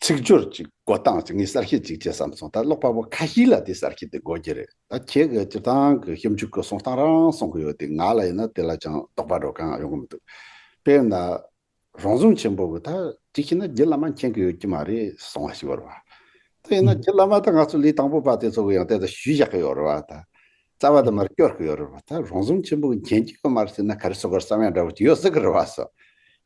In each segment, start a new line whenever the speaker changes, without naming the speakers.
ཚིག་སྦྱོར་གྱི་འགོ་སྟངས་ཀྱི་ངས་གསར་ཤེས་གཅིག་བྱས་བསམ་སོང་ད་ཀློག་པ་པོ་ཁ་ཤིས་ལ་དེ་གསར་ཤེས་དེ་འགོ་རྒྱུ་རེད་ད་ཁྱེད་ཀྱི་སྤྱིར་བཏང་གི་ཞིབ་འཇུག་གི་གསུང་སྟངས་རང་གསུང་གི་ཡོད་དེ་ང་ལ་ཡིན་ན་དེ་ལ་ཅང་དོགས་པ་འགྲོ་གང་ཡོང་གི་མི་འདུག་དཔེར་ན། རང་བྱུང་ཆེན་པོ་གི་ད་ཅིག་ཤི་ན་རྒྱུ་བླ་མ་མཁྱེན་གི་ཡོད་ཀྱི་མ་རེད་གསུང་བ་ཞིག་ཡོད་རེད་བ། དེ་ཡིན་ན་རྒྱུ་བླ་མ་ད་ང་ཚོ་ལས་དང་པོ་པ་དེ་ཚོ་གི་ཡང་དེ་ལྟར་ཞུས་བཞག་གི་ཡོད་རེད་བ་ད། རྩ་བ་དུ་མར་སྐྱོར་གི་ཡོད་རེད་བ་ད་རང་བཟང་ཆེན་པོ་གྱན་གྱི་ཡོད་མ་རེད་ཟེར་ན་ག་རེ་སོ་ག་རེ་བསམ་ཡག་འདྲ་བོ་ཅིག་ཡོད་སྲིད་གི་རེད་བ་སོ།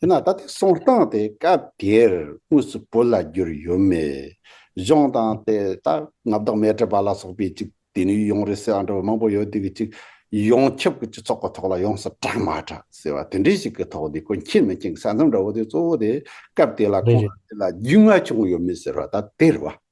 ཡིན་ན་ད་ལྟའི་གསང་སྟངས་དེ་སྐབས་དེར་དངོས་སུ་བོད་ལ་བསྒྱུར་ཡོད་མེད། གཞུང་དང་དེ་ད་ང་བདག་མེད་བྲིས་པ་ལ་སོགས་པའི་ཅིག་དེ་ནས་ཡོང་རེད་ཟེར་བ་འདྲ་བོ་མང་པོ་ཡོད་དེ་གི་ཅིག་ཡོངས་ཁྱབ་གི་སྤྱི་ཚོགས་གི་ཐོག་ལ་ཡོངས་སུ་གྲགས་མ་གྲགས་ཟེར་བ་དེ་འདྲའི་ཞིག་གི་ཐོག་དེ་ཀུན་མཁྱེན་མི་མཁྱེན་གྱི་ས་མཚམས་འདྲ་བོ་དེ་གཙོ་བོ་དེ་སྐབས་དེ་ལ་རེད་ཁོང་རེད། དེ་ལ་རྒྱུས་མངའ་བྱུང་ཡོད་མེད་ཟེར་བ་ད་དེ་རེད་བ།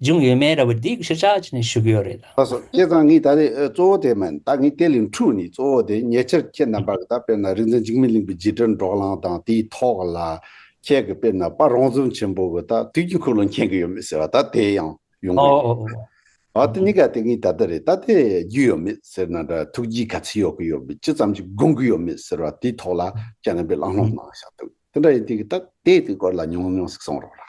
འབྱུང་ཡོད་མེད་ར་བའི་སྡིག་ཞིག་ཆགས་ཀྱི་ནས་ཞུ་གི་ཡོད་རེད་ད། ལགས་སོ་སྐལ་བཟང་ངས་ད་
རེས་གཙོ་བོ་དེ་མིན་ད་ངས་དེ་ལས་འཁྲུགས་ནས་གཙོ་བོ་དེ་ཉེ་ཆར་ཁྱེད་རྣམ་པ་གི་ད་དཔེར་ན་རིག་འཛིན་འཇིགས་མེད་གླིང་པའི་རྗེས་དྲན་འགྲོགས་ལངས་དང་དེའི་ཐོག་ལ་ཁྱེད་ཀྱི་དཔེར་ན་དཔའ་རོང་ཟོམ་ཆེན་པོ་གི་ད་དུས་ཀྱི་འཁོར་ལོ་མཁྱེན་གི་ཡོད་མེད་ཟེར་བ་ད་དེ་ཡང་ཡོང་གི་ཡོད་རེད་ད། འོ་དེ་གཉིས་ཀ་དེ་ངས་ད་ལྟ་རེད་ད་དེ་རྒྱུས་ཡོད་མེད་ཟེར་ན་འདྲ་ཐུགས་རྗེའི་ག་ཚད་ཡོད་གི་ཡོད་མེད་ཅི་ཙམ་གྱི་དགོངས་ཀྱི་ཡོད་མེད་ཟེར་བ་དེའི་ཐོག་ལ་ཁྱེད་རྣམ་པས་བླང་བསློང་གནང་ཞག་འདུག་དེ་འདྲ་ཡིན་དུས་ཀྱི་ད་དེའི་དུས་སྐོར་ལ་ཉུང་ཉུང་ཟིག་གསུང་རོགས་ར།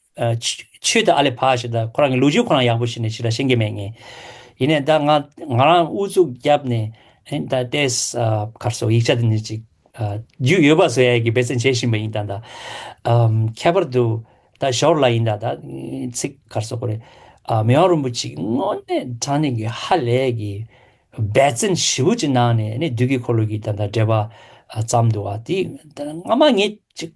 ཆོས་དེ་ཨ་ལས་བག་བྱས་ད་ཁོ་རང་གི་ལུས་ཅི་ཁོ་རང་ཡག་པོ་ཞིག་ནས་ཕྱི་དྲ་ཤེས་ཀྱི་མེད་ངེས། ཡིན་ནས་ད་ང་ང་རང་ཨུ་ཚུགས་བརྒྱབ་ནས་ཨིན་ད་ཏེས་ཁར་སོགས་ཡིག་ཆ་དེ་འདྲ་ཅིག་རྒྱུས་ཡོད་པ་བཟོ་ཡ་གི་འབད་བརྩོན་བྱེད་བཞིན་པ་ཡིན་ད་ད་ཁྱད་པར་དུ་ད་ཞོར་ལ་ཡིན་ད་ད་ཚིག་ཁར་སོགས་ཀོ་རེ་མི་དབང་རིན་པོ་ཆེ་དངོས་གནས་དྲང་གནས་ཀྱི་ཧ་ལས་ཀྱི་འབད་བརྩོན་ཞི་བུ་ཅིག་གནང་ནས་ནི་བདུད་ཀྱི་འཁོར་ལོ་ཀྱི་ད་ད་འགྲེལ་པ་བརྩམས་འདུག་བ་དེ་སྔ་མ་ངས་ཅིག།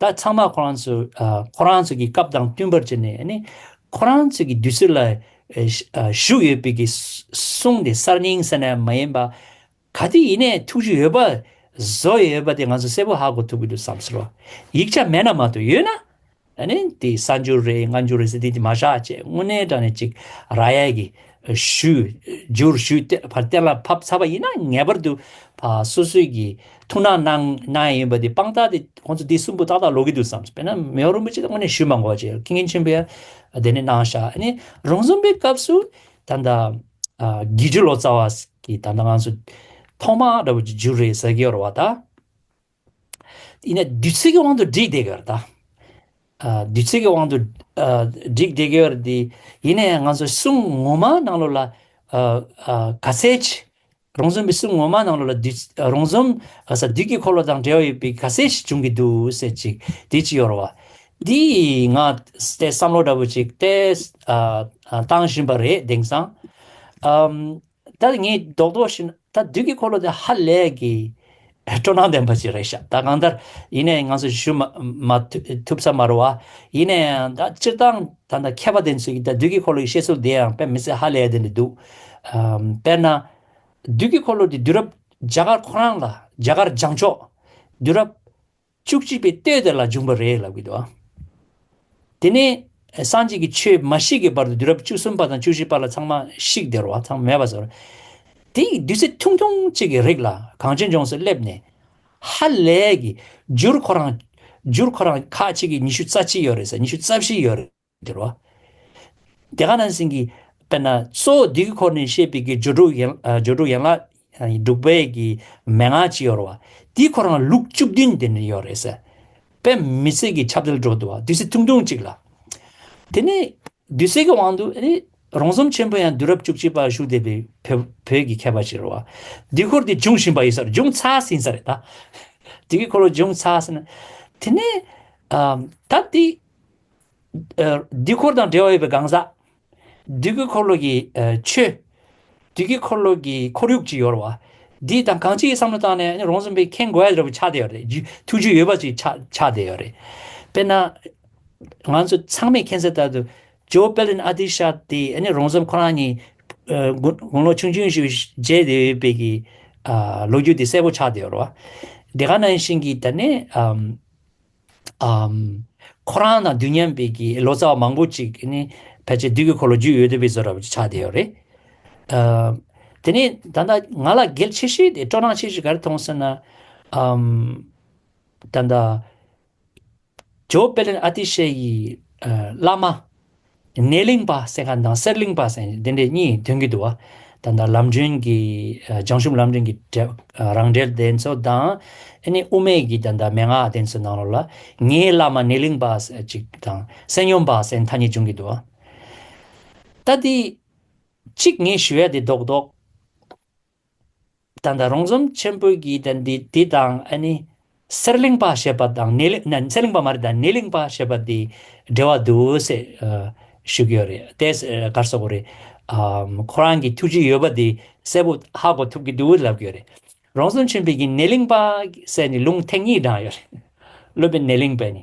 ད་ཚང་མ་ཁོ་རང་ཚོ་ཁོ་རང་ཚོ་གི་སྐབས་དང་བསྟུན་པར་བྱས་ནས་ཁོ་རང་ཚོ་གི་དུས་ཚོད་ལ་ཞུགས་ཡོད་པའི་གསུང་དེ་གསར་རྙིང་ཟེར་ནས་མ་ཡིན་པ། ག་དུས་ཡིན་ནའི་ཐུགས་རྒྱུས་ཡོད་པ་བཟོ་ཡོད་པ་དེ་ང་ཚོ་གསལ་པོ་ཧ་གོ་ཐུབ་ཀྱི་འདུག་བསམ་ཚུལ་བ། ཡིག་ཆ་མེད་ན་མ་གཏོགས་ཡོད་ན། དེ་གསར་འགྱུར་རེད་སྔ་འགྱུར་རེད་ཟེར་དེ་མ་བཞག་ཅེས་དངོས་གནས་དྲང་ནས་ཅིག་ར་ཡལ་གྱི་ཞུ། འཇུར་ཞུ་སྟེ་བར་གཏད་ལ་ཕབ་ཚར་བ་ཡིན་ན་ངེས་པར་དུ་སོ་སོས་ཀྱིས་ཐུགས་སྣང་གནང་གནང་ཡས་ཡིན་པ་དེ་དཔང་རྟགས་དེ་ཁོང་ཚོ་དེ་གསུམ་པོ་ཏག་ཏག་ལོག་གི་འདུག་བསམས་སོ། དཔེར་ན་མེའོ་རིན་པོ་ཆེ་དང་དངོས་གནས་ཞུས་མ་གོ་བ་བྱས་ཀྱི་ངས་ཆེན་པོས་དེ་ནས་གནང་བཞག་ཨ་ནི་རང་རྩོམ་པའི་སྐབས་སུ་ད་ལྟ་དགེ་བཅུ་ལོ་ཙཱ་བ་ཀྱིས་ད་ལྟ་ང་ཚོ་ཐོག་མ་ར་བ་ཀྱི་འཇུར་རེད་ཟེར་གི་ཡོད་རེད་བ་ད། ཡིན། བདུད་རྩི་གི་དབང་དུ་བསྒྲིགས་བསྡད་ཡོད་དཱ། བདུད་རྩི་གི་དབང་དུ་བསྒྲིགས་བསྡད་ཡོད་དེ། ཡིན་ནའི་ང་ཚོ་གསུང་ངོ་མ་ནང་ལོགས་ལ། ག་ཚད་ཅིག་རོང་ཟོམ་པའི་གསུང་ངོ་མ་ནང་ལོགས་ལ། རོང་ཟོམ་ག་ས་བདུད་ཀྱི་འཁོར་ལོ་དང་འབྲེལ་བ་ཡོད་པའི་ག་ཚད་ཅིག་འབྱུང་གི་འདུག་ཟེར་ཅིག་དེ་ཅི་ཡོད་རེད་བ། འདི་ང་བསམ་བློ་འདྲ་པོ་ཅིག་བལྟས་བཏང་བཞིན་པ་རེད་དེང་སང། ད་ངས་རྡོག་རྡོག་བྱས་ན་ད་བདུད་ཀྱི་འཁོར་ལོ་དེ་ཧ་ལས་ཀྱི་སྤྲོ་སྣང་ལྡན་པ་ཞིག་རེད་ཤག་ད་གང་ལྟར་ཡིན་ནའི་ང་ཚོ་བཞུད་མ་ཐུབ་ས་མ་རོ་བ་ཡིན་ནའི་ད་སྤྱིར་བཏང་ད་ལྟ་མཁས་པ་དེ་ཚོས་ཀྱིས་ད་བདུད་ཀྱི་འཁོར་ལོ་ཡི་བཤད་ཚུལ་དེའང་དཔེ་མི་ཚད་ཧ་ལས་དེ་འདྲ་འདུག་དཔེར་ན། བདུད་ཀྱི་འཁོར་ལོ་དེ་དུས་རབས་རྒྱ་གར་ཁོ་རང་ལ་རྒྱ་གར་འཇང་ཕྱོགས། དུས་རབས། བཅུ་གཅིག་པའི་ལྟོས་དེ་ལ་འབྱུང་བར་རེ་ལབ་ཀྱི་འདུག་ཨ། དེ་ནས་སངས་རྒྱས་ཀྱི་ཆོས་མ་ཞིག་གི་བར་དུ་དུས་རབས་བཅུ་གསུམ་པ་དང་བཅུ་བཞི་པ་ལ་ཚང་མ་ཤིག་དེར་བ་ཚང་མེད་པ་བཟོ་རེ། དེ་ཡི་བདུད་རྩི་ཐུང་ཐུང་གཅིག་གི་རིགས་ལ་གངས་ཅན་ལྗོངས་སུ་སླེབས་ནས། ཧ་ལས་ཀྱི། བསྒྱུར་ཁོ་རང། བསྒྱུར་ཁོ་རང་ཁ་ཅིག་གིས་ཉི་ཤུ་རྩ་གཅིག་ཡོད་རེད་ཟེར་ཉི་ཤུ་རྩ་བཞི་ཡོད་རེད། འདིར་རོ། དེ་ག་ནང་བཞིན་གྱི། དཔེར་ན་གཙོ་བོ་འདི་གི་འཁོར་ནས་བཤད་པའི་གྱི་སྦྱོར་དྲུག་ཡན་ལག་དྲུག་པའི་གྱི་མན་ངག་ཅི་ཡོད་རོ། དེའི་འཁོར་ཡང་ལུགས་བཅུ་བདུན་དེ་ནི་ཡོད་རེད། པད་མི་ཚེ་གྱི་ཆབ་དལ་འགྲོ་འདུག་བདུད་སྲི་ཐུང་ཐུང་གཅིག་ལ། དེ་ནས་བདུད་སྲི་གི་དབང་དུ་རོང་ཟོམ་ཆེན་པོ་ཡང་བདུད་རབས་བཅུ་གཅིག་པ་བཞུགས་བདེ་བའི་བོད་ཀྱི་མཁས་པ་ཅིག་རོ། དེའི་འཁོར་དེ་འབྱུང་བཞིན་པ་ཡིན་ས་རེད་འབྱུང་ཚར་ཟིན་ས་རེད། དེ་གི་འཁོར་ལོ་འབྱུང་ཚར་ཟིན། དེ་ནས། ད་དེ། དུས་འཁོར་དང་འབྲེལ་བ་ཡོད་པའི་གང་ཟག། དུས་ཀྱི་འཁོར་ལོ་གྱི་ཆོས། དུས་ཀྱི་འཁོར་ལོ་གྱི་ཁོར་ཡུག་ཅེས་ཡོད། འདི་དང་གང་ཅིའི་བསམ་བློ་བཏང་ནས་རང་བཙུན་པའི་ཁེངས་དགོས་ཡོད་པའི་ཆ་དེ་ཡོད་རེད། ཐུགས་རྒྱུས་ཡོད་པ་ཅིག་ཆ་དེ་ཡོད་རེད། དཔེར་ན། ང་ཚོ་ཚང་མས་མཁྱེན་གསལ་ལྟར་དུ། ཇོ་པེ་ལིན་ཨ་ཏི་ཤ་དེ་རང་བཙུན་ཁོ་རང་ཉིད་དགུང་ལོ་ཆུང་ཆུང་ཞིག་བརྒྱད་དེ་ཡོད་པའི་གི་ལོ་རྒྱུས་དེ་གསལ་པོ་ཆགས་དེ་ཡོད་རེད། དེ་ག་ནང་བཞིན་གྱི་ད་ནས། ཁོ་རང་དང་དུས་མཉམ་པའི་གི་ལོ་ཙཱ་བ་མང་པོ་ཅིག་ནི་ཕལ་ཆེར་དུས་ཀྱི་འཁོར་ལོ་རྒྱུས་ཡོད་དུ་བའི་བཟོ་ར་བ་ཅིག་ཆགས་བསྡད་ཡོད་རེད། དེ་ནས་ད་ལྟ་ང་ལ་གལ་ཆེ་ཤོས་དེ་སྤྲོ་སྣང་ཆེ་ཤོས་ག་རེ་མཐོང་ཟེར་ན། ད་ལྟ་ཇོ་པེ་ལན་ཨ་ཏི་ཤའི་ཡི་བླ་མ་གནས་གླིང་པ་སེང་ཁ་དང་གསེར་གླིང་པ་སེང་ཞེས་དེ་འདྲས་གཉིས་མཐུན་གྱི་འདུག་ད་ལྟ་ལམ་སྒྲོན་གྱི་བྱང་ཆུབ་ལམ་སྒྲོན་གྱི་རང་འགྲེལ་དེ་ཚོ་དང་ཨེ་ནི་དབུ་མེད་ཀྱི་ད་ལྟ་མན་ངག་དེ་ཚོའི་ནང་ལོགས་ལ་ངའི་བླ་མ་གནས་གླིང་པ་སེང་ཅིག་དང་སེང་ཡོམ་པ་སེང་ཐ་གཉིས་བྱུང་གི་འདུག་ད་དེ་གཅིག་ངས་ཞུ་ཡ་དེ་རྡོག་རྡོག། ད་ལྟ་རོང་ཟོམ་ཆེན་པོའི་གྱི་དེ་འདི་དེ་དང་ཨ་ནི། གསེར་གླིང་པ་ཞེས་པ་དང་ནེ་གླིང་གསེར་གླིང་པ་མ་རེད་ད་ནེ་གླིང་པ་ཞེས་པ་དེ་འབྲེལ་བ་འདུག་སེ་ཞུ་གི་ཡོད་རེད་དེ་གར་སོ་གོ་རེད། ཁོ་རང་གི་ཐུགས་ཀྱི་ཡོད་པ་དེ་གསལ་པོ་ཧ་གོ་ཐུབ་ཀྱི་འདུག་ལབ་གི་ཡོད་རེད། རོང་ཟོམ་ཆེན་པོའི་གྱི་ནེ་གླིང་པ་སེ་ནི་ལུང་ཐེངས་གཉིས་བགྲངས་ཡོད་རེད། ཀླུ་པའི་ནེ་གླིང་པས་ནི།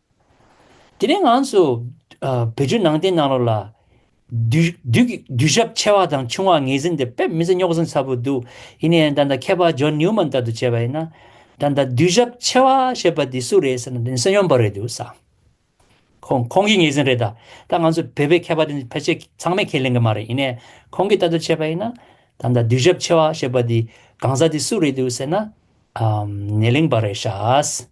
དེ་ནས་ང་ཚོ་བོད་བརྒྱུད་ནང་བསྟན་ནང་ལོགས་ལ། དུས་ཞབས་ཆེ་བ་དང་ཆུང་བ་ངེས་ཟིན་འདི་དཔེ་མི་ཚེ་རྙོག་ཟིང་ཚ་པོ་འདུག་ཡིན་ནའི་ད་ལྟ་མཁས་པ་ཇོན་ནིའུ་མན་ལྟར་དུ་བྱས་པ་ཡིན་ན། ད་ལྟ་དུས་ཞབས་ཆེ་བ་ཞེས་པ་འདི་སུ་རེད་ཟེར་ན་འདི་ནི་སེམས་ཡོངས་པར་རེད་འདུག་བསམ། ཁོང་ཁོང་གིས་ངེས་ཟིན་རེད་ད། ད་ང་ཚོ་བོད་པའི་མཁས་པ་འདི་ཕལ་ཆེར་ཚང་མས་ཁས་ལེན་གི་མ་རེད་ཡིན་ནའི་ཁོང་གིས་ལྟ་དུ་བྱས་པ་ཡིན་ན། ད་ལྟ་དུས་ཞབས་ཆེ་བ་ཞེས་པ་འདི་གང་ཟག་འདི་སུ་རེད་འདུག་ཟེར་ན། ནས་ལིང་པ་རེད་ཤག།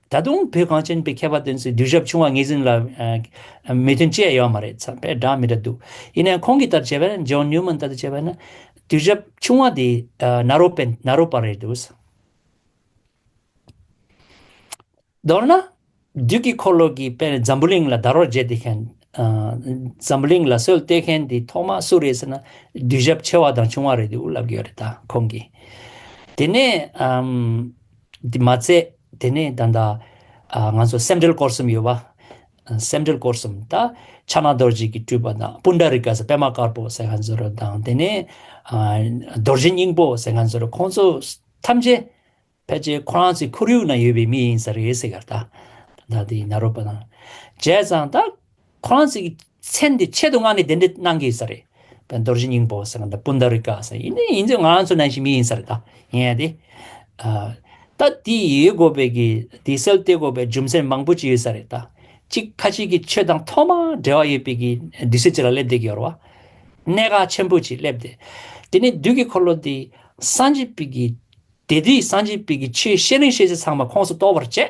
ད་དུང་བོད་གངས་ཅན་པའི་མཁས་པ་དོན་གསལ་གདུལ་ཞབས་ཆུང་བ་ངེད་ཟིན་ལ་མོས་མཐུན་བཅས་ཡོད་མ་རེད་ཚང་པས་སྒྲ་མི་འདྲ་འདུག་ཡིན་ནའང་ཁོང་གི་ལྟར་བྱས་པས་ན John Newman ལྟར་དུ་བྱས་པས་ན་གདུལ་ཞབས་ཆུང་བ་དེ་ནཱ་རོ་པན་ནཱ་རོ་པ་རེད་འདུག། མདོར་ན། བདུད་ཀྱི་འཁོར་ལོ་གྱི་པས་ནས་འཛམ་བུ་གླིང་ལ་དར་བར་བརྗེད་དེ་མཁན། འཛམ་བུ་གླིང་ལ་གསོལ་བཏད་མཁན་དེ་ཐོག་མ་སུ་རེད་ཟེར་ན་གདུལ་ཞབས་ཆེ་བ་དང་ཆུང་བ་རེད་འདུག་ལབ་ཀྱི་ཡོད་རེད་ད་ཁོང་གིས་དེ་ནས་དེ་མ་ཚད། དེ་ནས་ད་ལྟ། ང་ཚོ་སེམས་འགྲེལ་སྐོར་གསུམ་ཡོད་པ། སེམས་འགྲེལ་སྐོར་གསུམ་ད། ཕྱག་ན་རྡོ་རྗེ་གི་སྤྲུལ་པ་དང་པུནྡ་རི་ཀ་ཟེར་པདྨ་དཀར་པོ་ཟེར་ང་ཚོ་རུ་དང་དེ་ནས། རྡོ་རྗེ་སྙིང་པོ་ཟེར་ང་ཚོ་རུ་ཁོང་ཚོ་ཐམས་ཅད། ཕལ་ཆེར་ཁོ་རང་ཚོའི་ཁོར་ཡུག་ན་ཡོད་པའི་མི་ཡིན་ས་རེད་ཟེར་ག་ད། ད་དེ་ན་རོ་པ་དང། བྱས་ཙང་ད། ཁོ་རང་ཚོའི་མཚན་དེ་ཆེད་དུ་མངགས་ནས་དེ་འདྲ་གནང་གི་ཡོད་ས་རེད། རྡོ་རྗེ་སྙིང་པོ་ཟེར་བ་དང་པུནྡ་རི་ཀ་ཟེར་བ་ཡིན་ནའི་ཡིན་ཚོད་ང་རང་ཚོ་ནང་བཞིན་མི་ཡིན་ས་རེད་ད་ཡིན་ཡ་དེ། ད་དེ་ཡོད་དགོས་པའི་གི་དེ་སེལ་ཏེ་དགོས་པའི་རྒྱུ་མཚན་མང་པོ་ཅི་ཡོད་ས་རེད་ད། གཅིག་ཁ་ཅིག་གིས་ཆོས་དང་ཐོག་མར་འབྲེལ་བ་ཡོད་པའི་གི་བདུད་སྲིད་ཅིག་ལ་སླེབས་བསྡད་ཀྱི་ཡོད་རེད་བ། གནད་འགག་ཆེན་པོ་ཅིག་སླེབས་ཏེ། དེ་ནས་བདུད་ཀྱི་འཁོར་ལོ་དེ་སངས་རྒྱས་པའི་གི་དེ་དུས་སངས་རྒྱས་པའི་གི་ཆོས་བཤད་རིང་བཤད་ཚེ་ཚང་མ་ཁོངས་སུ་གཏོགས་པར་བྱས།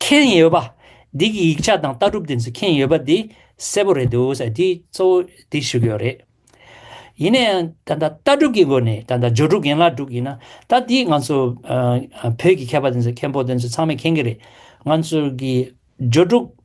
མཁྱེན་ཡོད་པ། འདི་གི་ཡིག་ཆ་དང་ལྟ་གྲུབ་དེ་ཚོ་མཁྱེན་ཡོད་པ་འདི་གསལ་པོ་རེད་འདུག་ས་དེ་གཙོ་བོ་དེ་ཞུ་གི་ཡོད་རེད། ཡིན་ན་ཡང་ད་ལྟ་ལྟ་གྲུབ་ཀྱི་སྒོ་ནས་ད་ལྟ་སྦྱོར་དྲུག་ཡན་ལག་དྲུག་ཡིན་ན་ད་དེ་ང་ཚོ་བོད་ཀྱི་མཁས་པ་དེ་ཚོ་མཁན་པོ་དེ་ཚོ་ཚང་མས་མཁྱེན་གྱི་རེད། ང་ཚོ་གི་སྦྱོར་དྲུག།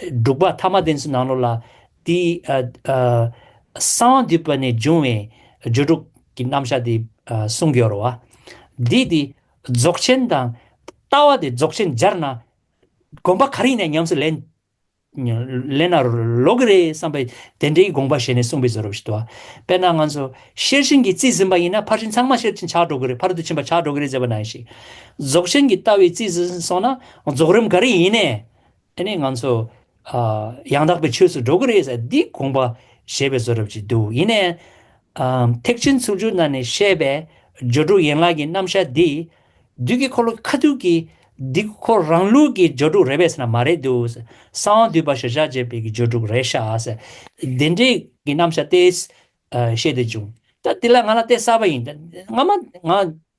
འབྲུག་པ་དྷརྨ་དན་སི་ནང་ལོ་ལ། དེའི། གསང་བ་འདུས་པ་ནས་འབྱུང་བའི། སྦྱོར་དྲུག་གི་རྣམ་བཞག་དེ། གསུང་སྦྱོར་བ། འདིས་དེ། རྫོགས་ཆེན་དང། ལྟ་བ་དེ་རྫོགས་ཆེན་སྦྱར་ན། དགོན་པ་ག་རེ་ཡིན་ན་ཉམས་སུ་ལེན། ལེན་ན་ལོག་གི་རེད་བསམ་པའི། དེ་འདྲའི་དགོངས་པ་བཞེས་ནས་གསུངས་པའི་བཟོ་རབ་ཞིག་ཏུ། དཔེར་ན་ང་ཚོ། ཤེར་ཕྱིན་གྱི་རྩིས་ཟིན་པ་ཡིན་ན་ཕར་ཕྱིན་ཚང་མ་ཤེར་ཕྱིན་ཆགས་འགྲོ་གི་རེད་ཕར་དུ་ཕྱིན་པ་ཆགས་འགྲོ་གི་རེད་ཟེར་བ་ནང་བཞིན། རྫོགས་ཆེན་གྱི་ལྟ་བའི་རྩིས་ཟིན་སོང་ན་རྫོགས་རིམ་ག་རེ་ཡིན་ནས། དེ་ནས་ང་ཚོ། ཡང་དག་པའི་ཆོས་སུ་འགྲོ་གི་རེད་ཟེར་འདི་དགོངས་པ་བཞེས་པའི་བཟོ་རབས་ཅིག་འདུག་ཡིན་ནའི། ཐེག་ཆེན་ཚུལ་བཅུ་ནང་ནས་བཤད་པའི་སྦྱོར་དྲུག་ཡན་ལག་གི་རྣམ་གཞག་འདིས། བདུད་ཀྱི་འཁོར་ལོ་ཁ་ཐུག་གི་འདི་ཁོ་རང་ལུགས་ཀྱི་སྦྱོར་དྲུག་རེད་བས་ན་མ་རེད་འདུག། གསང་བ་འདུས་པ་ཞེས་བྱ་བྱེད་པའི་ཀྱི་སྦྱོར་དྲུག་རེད་ཤག་ཟེར། བདེན་འབྲས་ཀྱི་རྣམ་གཞག་ཏེ། བཤད་དེ་བྱུང། ད་འདི་ལ་ང་ལ་ལྟས་གསར་པ་ཡིན། སྔ་མ་ང།